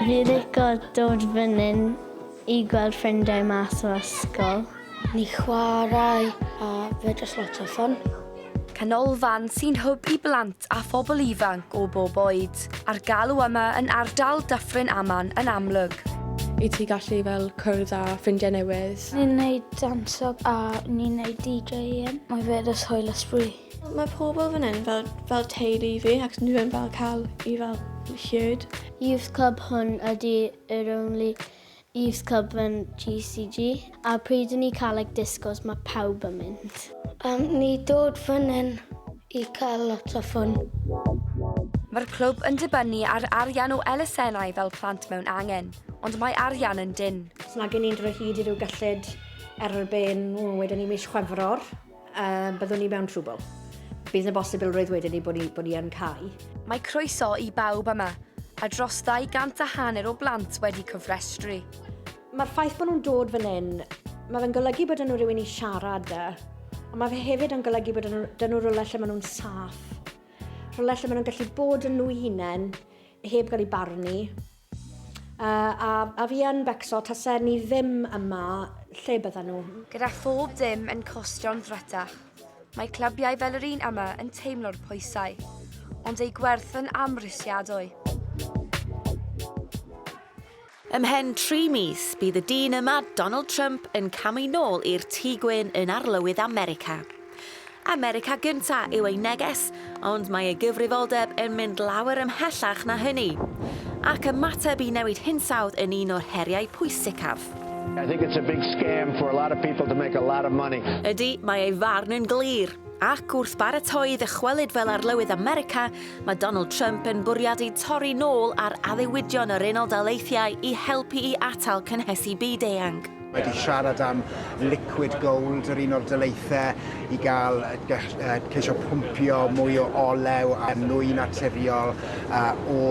Fi lico dod fyn'yn i gweld ffrindiau mas o ysgol. Ni chwarae a fy dros lot o ffon. Canolfan sy'n hwb i blant a phobl ifanc o bob oed. A'r galw yma yn ardal Dyffryn Aman yn amlwg. I ti gallu fel cwrdd a ffrindiau newydd. Ni'n neud danso a ni'n neud DJing. Mae fe jyst hwyl a sbri. Mae pobl fan hyn fel, fel teulu i fi ac nhw yn fel cael i fel hyd. Youth Club hwn ydy yr only Youth Club yn GCG a pryd yn ni cael like discos mae pawb yn mynd. Um, ni dod fan hyn i cael lot o ffwn. Mae'r clwb yn dibynnu ar arian o elusennau fel plant mewn angen, ond mae arian yn dyn. Os nag i ni'n drwy hyd i ryw gyllid erbyn, wedyn ni mis Chwefror. A byddwn ni mewn trwbl. Bydd 'na bosibilrwydd wedyn ni bod ni, bod ni yn cau. Mae croeso i bawb yma, a dros ddau gant a hanner o blant wedi cofrestru. Mae'r ffaith bod nhw'n dod fan hyn, mae fe'n golygu bod nhw rhywun i siarad da, ond mae fe hefyd yn golygu bod nhw, dyn nhw rhywle lle maen nhw'n saff, rhywle lle maen nhw'n gallu bod yn nhw hunain, heb gael ei barnu. A, a fi yn becso, tase ni ddim yma, lle bydden nhw? Gyda phob dim yn costio'n ddrytach, mae clybiau fel yr un yma yn teimlo'r pwysau, ond eu gwerth yn amhrisiadwy. Ymhen tri mis, bydd y dyn yma, Donald Trump, yn camu nôl i'r Tŷ Gwyn yn Arlywydd America. America Gynta' yw ei neges, ond mae ei gyfrifoldeb yn mynd lawer ymhellach na hynny. Ac ymateb i newid hinsawdd yn un o'r heriau pwysicaf. I think it's a big scam for a lot of people to make a lot of money. Ydy, mae ei farn yn glir. Ac wrth baratoi ddychwelyd fel Arlywydd America, mae Donald Trump yn bwriadu torri nôl ar addewidion yr Unol Daleithiau i helpu i atal cynhesu byd-eang. Mae wedi siarad am liquid gold, yr un o'r dyleithau i gael ceisio pwmpio mwy o olew a nwy naturiol o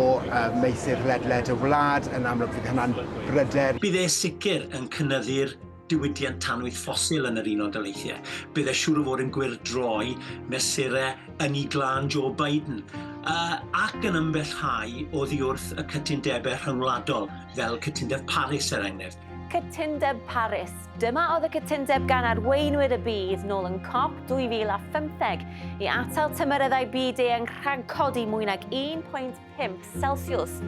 meysydd ledled y wlad. Yn amlwg fydd hynna'n bryder. Bydd e sicr yn cynyddu'r diwydiant tanwydd ffosil yn yr Unol Daleithiau. Bydd e siŵr o fod yn gwyrdd droi mesurau ynni glân Joe Biden ac yn ymbellhau oddi wrth y cytundebau rhyngwladol fel Cytundeb Paris er enghraifft. Cytundeb Paris. Dyma oedd y cytundeb gan arweinwyr y byd nôl yn COP 2015 i atal tymereddau byd eang rhagcodi mwy nag 1.5 Celsius.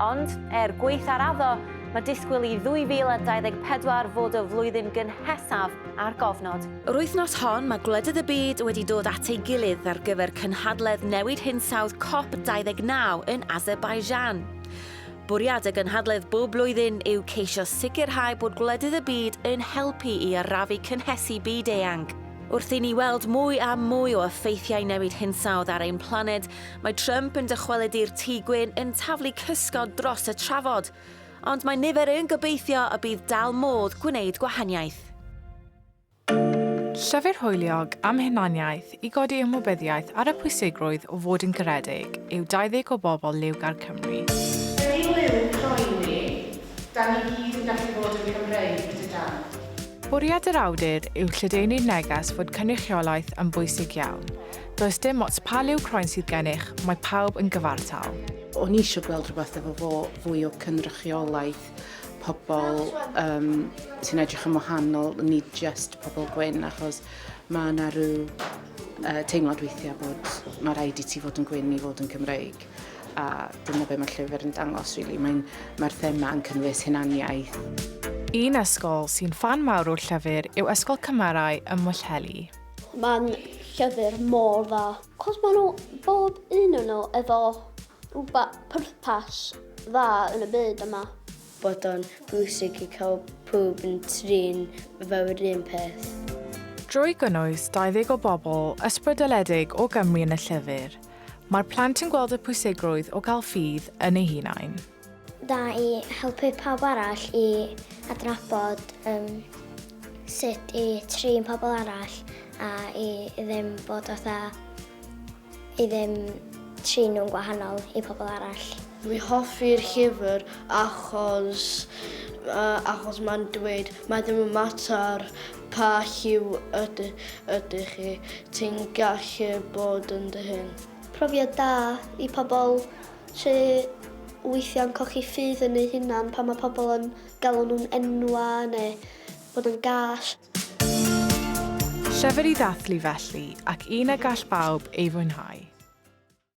Ond, er gweithgareddo, mae disgwyl i 2024 fod y flwyddyn gynhesaf ar gofnod. Yr wythnos hon, mae gwledydd y byd wedi dod at ei gilydd ar gyfer cynhadledd newid hinsawdd COP 29 yn Azerbaijan. Bwriad y gynhadledd bob blwyddyn yw ceisio sicrhau bod gwledydd y byd yn helpu i arafu cynhesu byd-eang. Wrth i ni weld mwy a mwy o effeithiau newid hinsawdd ar ein planed, mae Trump yn dychwelyd i'r Tŷ Gwyn yn taflu cysgod dros y trafod. Ond mae nifer yn gobeithio y bydd dal modd gwneud gwahaniaeth. Llyfr hwyliog am hunaniaeth i godi ymwybyddiaeth ar y pwysigrwydd o fod yn garedig yw 20 o bobl liwgar Cymru. Hei Liw croen ni, dan ni gyd yn gallu bod yn Cymreig, dydan? Bwriad yr awdur yw lledaenu'r neges fod cynrychiolaeth yn bwysig iawn. Does dim ots pa liw croen sydd gennych, mae pawb yn gyfartal. O'n i isio gweld rhywbeth efo fo, fwy o cynrychiolaeth. pobl um, sy'n edrych yn wahanol, nid just pobl gwyn, achos mae yna rhyw uh, teimlad weithiau bod mae rhaid i ti fod yn gwyn i fod yn Cymreig. A dyna be mae'r llyfr yn dangos, really. Mae'r mae thema yn cynnwys hunaniaeth. Un ysgol sy'n fan mawr o'r llyfr yw Ysgol Cymarau ym Mwllheli. Mae'n llyfr mor dda. Cos maen nhw, bob un o'n nhw efo Rhywbeth pwrpas dda yn y byd yma. Bod o'n bwysig i cael pawb yn trin myfyrwyr un peth. Drwy gynnwys 20 o bobl ysbrydoledig o Gymru yn y llyfr, mae'r plant yn gweld y pwysigrwydd o gael ffydd yn eu hunain. Da i helpu pawb arall i adnabod um, sut i trin pobl arall a i ddim bod fatha I ddim trin nhw'n gwahanol i pobl arall. Dwi hoffi'r llyfr achos uh, achos mae'n dweud mae ddim yn mater pa lliw ydy, ydy chi, ti'n gallu bod yn dy hun. Profiad da i pobl sy'n weithiau'n cochi ffydd yn eu hunan pan mae pobl yn galw nhw'n enwa neu fod yn gall. Llyfr i ddathlu felly, ac un y gall bawb ei fwynhau.